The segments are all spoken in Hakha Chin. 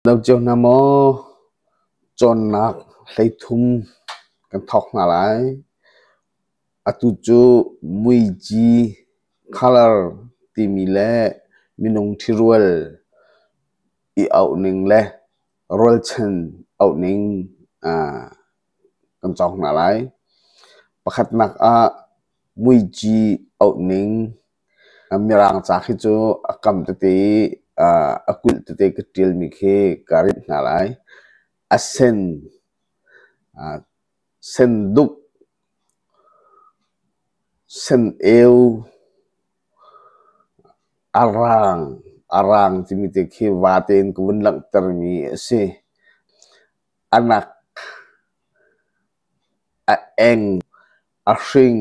Lo cio hna maw? Cawnnak hleithum kan thawk hna lai. Atu cu muici colour timi le minung ṭhirual i auh ning le rualchan auh ning ah kan cawng hna lai. Pakhatnak ah muici auh ning. Mirang ca khi cu a kam tete i a kulh tete ka ṭialmi khi ka rinh hna lai. A sen, senduk, seneu, arang, arang timi te khi va tein ka vun langhtermi a si. A nak, a eng, a hring,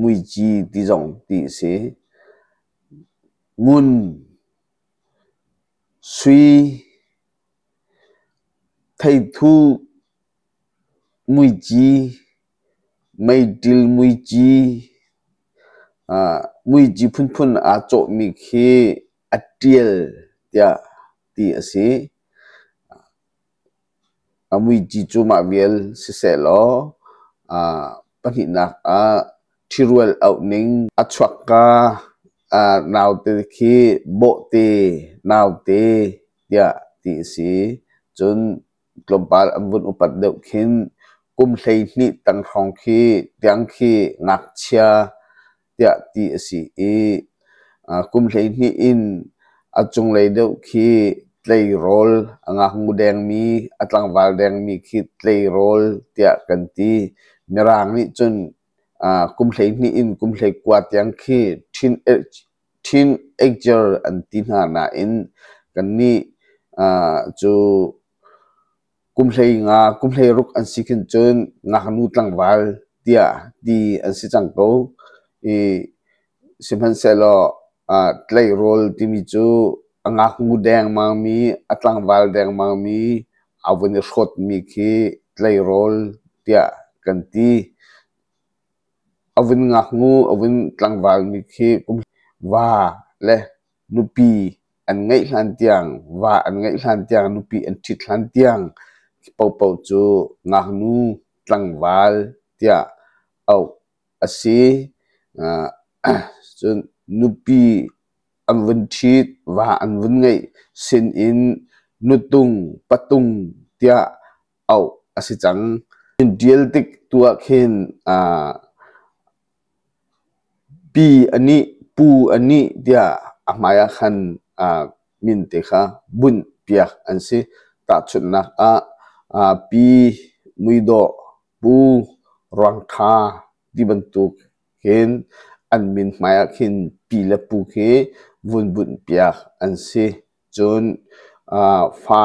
Muici ti zong ti a si. Ngun, sui, theithu, muici, meiṭil muici, muici phunphun aa cawhmi khi a ṭial tiah ti a si. A muici cu mah vial sisehlaw aa pahnihnak ah ṭhirual auh ning a chuakka aa naute khi bawhte naute tiah ti a si. Cun tlawmpal an vun upat deuh khin kum hleihnih tang hrawng khi tiang khi ngakchia tiah ti a si i kum hleihnih in a cunglei deuh khi tleirawl a ngaknu dengmi a tlangval dengmi khi tleirawl tiah kan ti mirang nih cun kum hleihnih in kum hleikua tiang khi ṭhin ṭhin eicer an ti hna nain kannih cu kum hlei nga kum hlei ruk an si khin cun ngaknu tlangval tiah ti an si cang ko. I sihmanhsehlaw ah tleirawl timi cu a ngaknu dengmangmi, a tlangval dengmangmi a vun i hrawtmi khi tleirawl tiah kan ti. A vun ngaknu, a vun tlangvalmi khi kum va le Nupi an ngeih hlan tiang, va an ngeih hlan tiang, nupi an ṭhit hlan tiang paohpaoh cu ngaknu tlangval tiah auh a si. Cun nupi an vun ṭhit, va an vun ngeih sinin nutung, patung tiah auh a si cang. Tial tik tuah khin ah pi a nih pu a nih tiah a hmai ah khan ah min te kha bunh piak an si. Tahchunhnak ah ah pi muidawh pu ruangtha ti bantuk hin an min hmai ah khin pi le pu khi vun bunh piak an si. Cun ah fa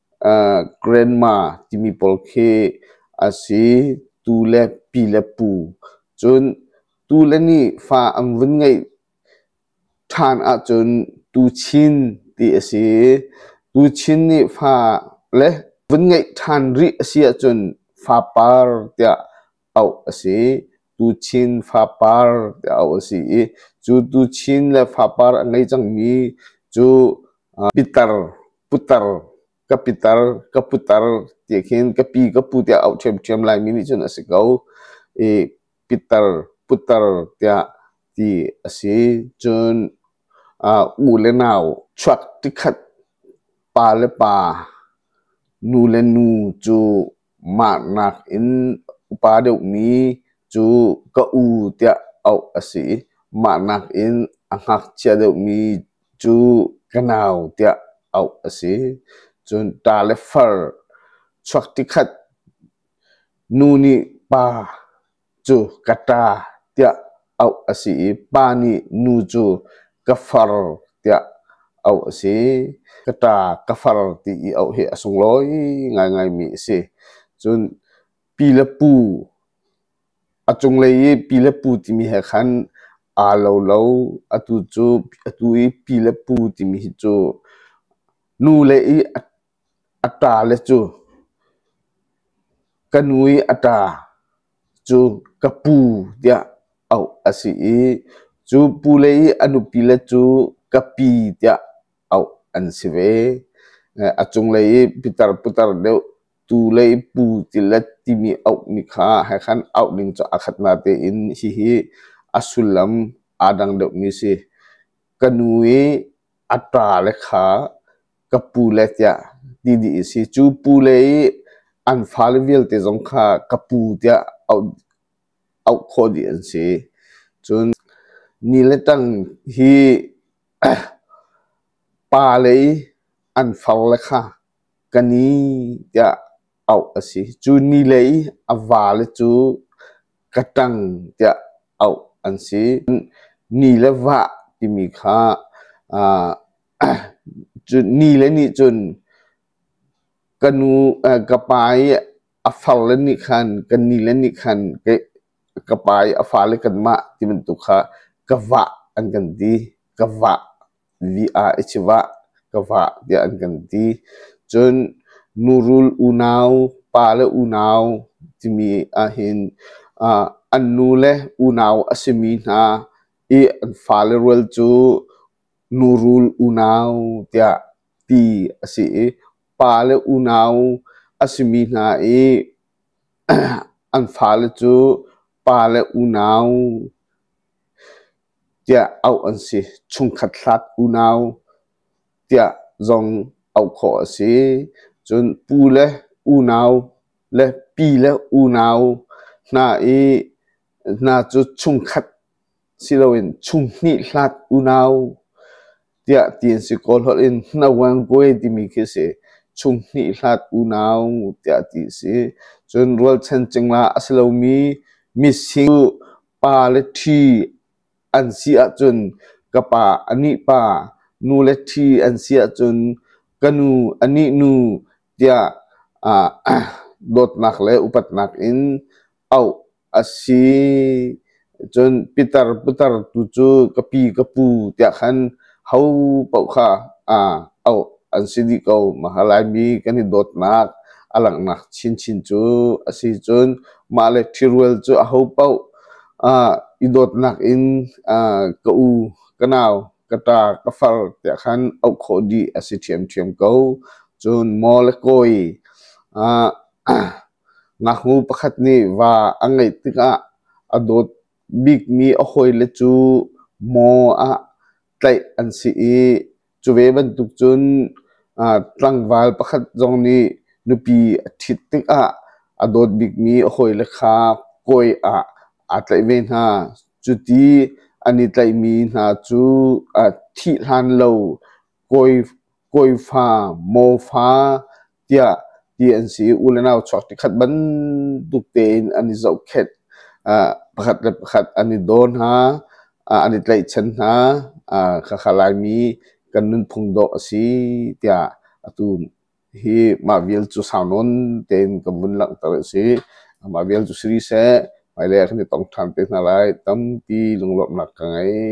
grandma timi pawl khi a si. Tu le pi le pu. Cun tu le nih fa an vun ngeih ṭhan ahcun tuchin ti a si. Tuchin nih fa le vun ngeih ṭhan rih a si ahcun fapar tiah auh a si. Tuchin fapar tiah auh a si i cu tuchin le fapar a ngei cangmi cu uh, pitar, putar, ka pitar, ka putar tiah khin ka pi, ka pu tiah auh ṭhiamṭhiam laimi nih cun a si ko. I pitar, putar tiah ti a si. Cun uh, u le nau chuak tikhat pa le pa, nu le nu cu Mahnak in upa deuhmi cu ka u tiah auh a si i mahnak in a ngakchia deuhmi cu ka nau tiah auh a si. Cun ta le far, chuak tikhat, nu nih pa. cu ka ṭa tiah auh a si i pa nih nu cu ka far tiah auh a si. Ka ṭa ka far ti i auh hi a sunglawi ngaingai mi a si. Cun pi le pu a cunglei i pi le pu timi he khan aa lo lo. Atu cu atu i pi le pu timi hi cu nu le i a A ṭa le cu ka nu i a ṭa cu ka pu tiah auh a si i cu pu le i a nupi le cu ka pi tiah auh an si ve. A cunglei i pitar putar deuh tu le i pu ti le timi auhmi kha he khan auh ning cu a khat nate in hihi a sullam aa dang deuhmi a si. Ka nu i A ṭale kha ka pule tiah ti dih i si. Cu pule i an fale vialte zong kha ka pu tiah auh, auh khawh dih an si. Cun ni le tang hi pale i an fale kha ka ni tiah auh a si. Cu ni lei a vale cu Katang tiah auh an si. Ni le vah timi kha uh, cu ni le nih cun ka nu uh, ka pa i a far le nih khan ka ni le nih khan ka, ka pa i a fale kan mah ti bantuk kha ka vah an kan ti. Ka vah vi ah i chivah ka vah tiah an kan ti. Cun Nurul unau, pa le unau timi ahhin ah an nu le unau a simi hna i an fale rual cu Nurul unau tiah ti a si i pa le unau a simi hna i an fale cu pa le unau tiah auh an si. Chungkhat hlat unau tiah zong auh khawh a si. Cun pu le unau le pi le unau hna i hna cu chungkhat si loin chung hnih hlat unau Tiah ti an si kawl holh in Hnawangwe timi khi a si. Chung hnih hlat unau tiah ti a si. Cun rualchan cingla a si lomi mising pa le ṭhi an si ahcun ka pa a nih pa, nu le ṭhi an si ahcun ka nu a nih nu tiah aa dawtnak le upatnak in auh a si. Cun pitar putar tu cu ka pi ka pu tiah khan ho paoh kha aa auh an si dih ko. Mahalaimi kan i dawtnak a langhnak chinchin cu a si cun mah le ṭhirual cu a ho paoh ah i dawtnak in ah ka u, ka nau, ka ṭa, ka far tiah khan auh khawh dih a si ṭhiamṭhiam ko. Cun maw le kawi ah Ngaknu pakhat nih va a ngeih tikah a dawt bikmi a hawile cu maw ah tlaih an si i cu ve bantuk cun tlangval pakhat zong nih nupi a ṭhit tikah a dawt bikmi a hawile kha kawi ah aa tlaih ve hna. Cuti an i tlaihmi hna cu thih hlan lo kawi, kawifa, maw fa tiah ti an si i u le nau chuak ṭikhat bantuk tein an i zohkhenh. Ah, pakhat le pakhat an i daw hna, ah, an i tlaihchan hna. Ah, khakha Laimi kan nunphung dawh a si tiah atu hi mah vial cu sau nawn tein kan vun langhter a si. Mah vial cu si seh, hmailei ah kan i tong ṭhan te hna lai, tampi lunglawmhnak ka ngei.